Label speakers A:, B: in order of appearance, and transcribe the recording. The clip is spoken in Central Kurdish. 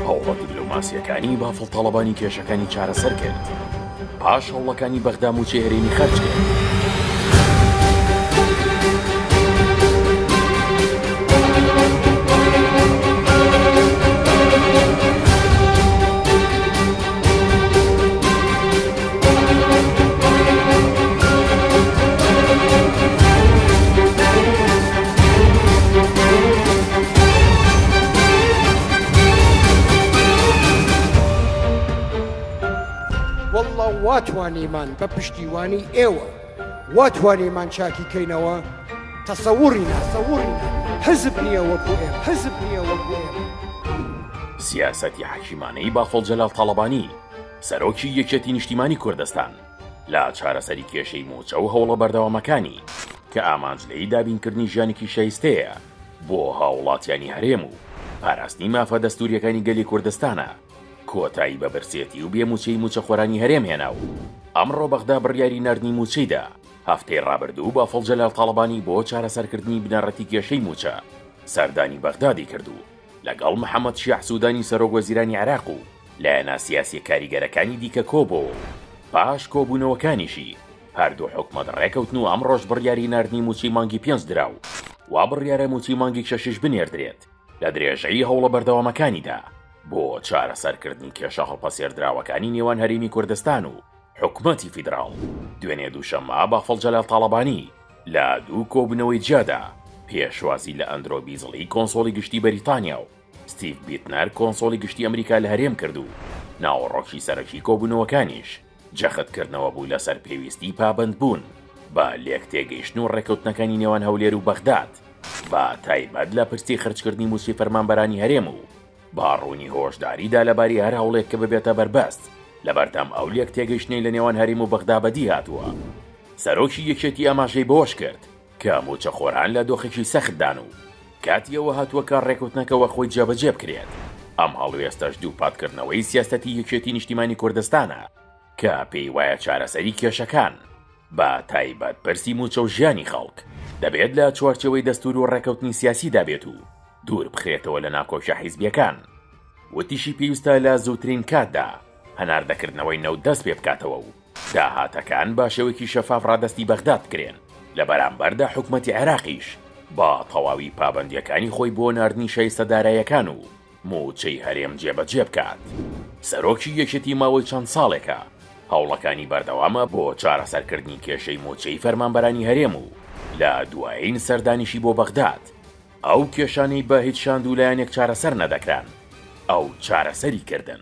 A: هەوڵە دبلۆماسییەکانی بافڵ تاڵەبانی کێشەکانی چارەسەر کرد پاش هەوڵەکانی بەغدا موچەی هەرێمی خەرج کرد.
B: وەڵڵا وا توانیمان بە پشتیوانی ئێوە وا توانیمان چاکی کەینەوە تەسەوڕی ناسەوڕی حزب نییە وەکو ئێ حزب نییە وەکو ئێ
A: سیاسەتی حەکیمانەی بافڵ جەلال تاڵەبانی سەرۆکی یەکێتی نیشتیمانی کوردستان لە چارەسەری کێشەی مووچە و هەوڵە بەردەوامەکانی کە ئامانج لێی دابینکردنی ژیانێکی شایستەیە بۆ هاووڵاتیانی هەرێم و پاراستنی مافە دەستوورییەکانی گەلی کوردستانە، کۆتایی بە برسێتی و بێ مووچەیی مووچەخۆرانی هەرێم هێنا و ئەمڕۆ بەغدا بڕیاری ناردنی مووچەی دا. هەفتەی ڕابردوو بافڵ جەلال تاڵەبانی بۆ چارەسەرکردنی بنەڕەتی کێشەی مووچە سەردانی بەغدادی کرد و لەگەڵ محەمەد شیاع سودانی سەرۆک وەزیرانی عێراق و لایەنە سیاسیە کاریگەرەکانی دیکە کۆبۆوە و پاش کۆبونەوەکانیشی هەردوو حکومەت ڕێکەوتن و ئەمڕۆش بڕیاری ناردنی موچەی مانگی پێنج درا و وا بڕیارە موچەی مانگی شەشیش بنێردرێت لە درێژەی هەوڵە بەردەوامەکانیدا بۆ چارەسەرکردنی کێشە هەڵپەسێردراوەکانی نێوان هەرێمی کوردستان و حکومەتی فیدراڵ دوێنێ دووشەممە بافڵ جەلال تاڵەبانی لە دوو کۆبوونەوەی جیادا پێشوازی لە ئەندرۆ بیزڵی کۆنسۆڵی گشتی بەریتانیا و ستیڤ بیتنەر کۆنسۆڵی گشتی ئەمریکا لە هەرێم کرد و ناوەڕۆکی سەرەکی کۆبوونەوەکانیش جەختکردنەوە بوو لەسەر پێویستی پابەندبوون بە لێکتێگەیشتن و ڕێککەوتنەکانی نێوان هەولێر و بەغداد بە تایبەت لە پرسی خرچکردنی مووچەی فەرمانبەرانی هەرێم و با ڕوونی هۆشداری دا لەباری هەر هەوڵێک کە ببێتە بەربەست لەبەردەم ئەو لێکتێگەیشتنەی لە نێوان هەریم و بەغدا بەدی هاتووە. سەرۆکی یەکێتی ئاماژەی بەوەش کرد کە مووچەخۆران لە دۆخێکی سەختدان و کاتی ئەوە هاتووە کە ڕێککەوتنەکە وەخۆی جێبەجێ بکرێت، ئەم هەڵوێستەش دووپاتکردنەوەی سیاسەتی یەکێتی نیشتیمانی کوردستانە. کە پێی وایە چارەسەری کێشەکان، بە تایبەت پرسی مووچە و ژیانی خەڵک، دەبێت لە چوارچێوەی دەستوور و ڕێکەوتنی سیاسیدا بێت و دوور بخرێتەوە لە ناکۆکیە حیزبیەکان. وتیشی پێویستە لە زووترین کاتدا هەناردەکردنەوەی نەوت دەست پێ بکاتەوە و داهاتەکان بە شێوەیەکی شەفاف ڕادەستی بەغداد بکرێن، لە بەرامبەردا حکومەتی عێراقیش بە تەواوی پابەندیەکانی خۆی بۆ ناردنی شایستە دارایەکان و مووچەی هەرێم جێبەجێ بکات. سەرۆکی یەکێتی ماوەی چەند ساڵێکە هەوڵەکانی بەردەوامە بۆ چارەسەرکردنی کێشەی مووچەی فەرمانبەرانی هەرێم و لە دوایین سەردانیشی بۆ بەغداد ئەو کێشانەی بە هیچ شاند و لایەنێک چارەسەر نەدەکران ئەو چارەسەری کردن.